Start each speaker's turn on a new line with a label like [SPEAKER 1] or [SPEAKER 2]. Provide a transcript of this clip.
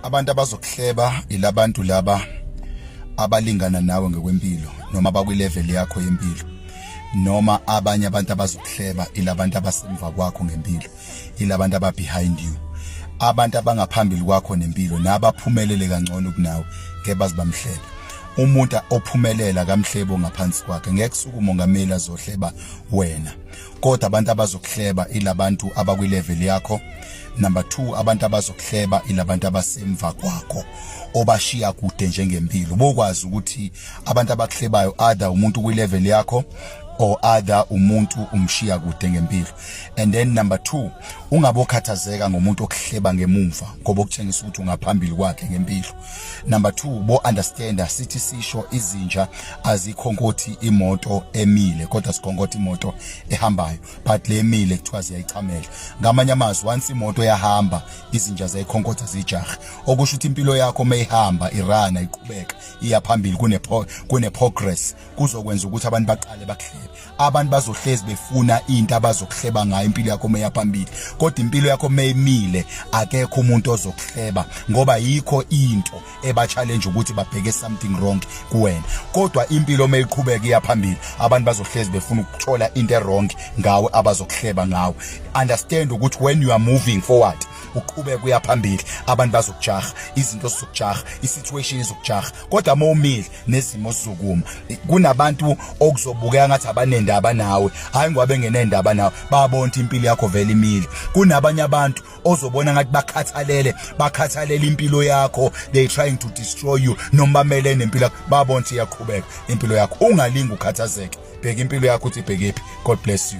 [SPEAKER 1] abantu abazokuhleba ilabantu laba abalingana nawe ngokwempilo noma abakwilevel yakho yempilo noma abanye abantu abazokuhleba ilabantu abasemva kwakho ngempilo ilabantu aba behind you abantu abangaphambili kwakho nempilo nabaphumelele kangcono kunawe ke bazibamhlebe umuntu ophumelela kamhlebo ngaphansi kwakhe ngeke suku mongameli azohleba wena kodwa abantu abazokuhleba ilabantu abakwi level yakho number 2 abantu abazokuhleba ilabantu abasemva kwakho obashiya kude njengempilo bokwazi ukuthi abantu abakuhlebayo other umuntu kwi level yakho or other umuntu umshiya kude ngempilo and then number 2 ungabokhathazeka ngomuntu okuhleba ngemumva ngoba ukutshengisa ukuthi ungaphambili kwakhe ngempilo number 2 bo understander sithi sisho izinja azikhonkothi imoto emile kodwa sikhonkothi imoto ehambayo but lemile kuthiwa ziyayichamela ngamanye amazwi once imoto yahamba izinja ziyayikhonkotha zijaha okusho ukuthi impilo yakho mayihamba irana iqhubeka iya phambili kune kune progress kuzokwenza ukuthi abantu baqale bakuhlebe abantu bazohlezi befuna into abazokuhleba ngayo impilo yakho meya phambili kodwa impilo yakho meyimile akekho umuntu ozokuhleba ngoba yikho into eba challenge ukuthi babheke something wrong kuwena kodwa impilo meyiqhubeka iya phambili abantu bazohlezi befuna ukuthola into ewrong ngawe abazokuhleba ngawe understand ukuthi when you are moving forward uqhubeka uya phambili abantu bazokujaha izinto zizokujaha isituation izokujaha kodwa uma umile nezimo sokuma kunabantu okuzobukeka ngathi abanendaba nawe hayi ngoba bengenendaba nawe babona impilo yakho vele imile kunabanye abantu ozobona ngathi bakhathalele bakhathalele impilo yakho they trying to destroy you noma bamele nempilo yakho babona ukuthi iyaqhubeka impilo yakho ungalingi ukhathazeke bheka impilo yakho uthi bhekephi god bless you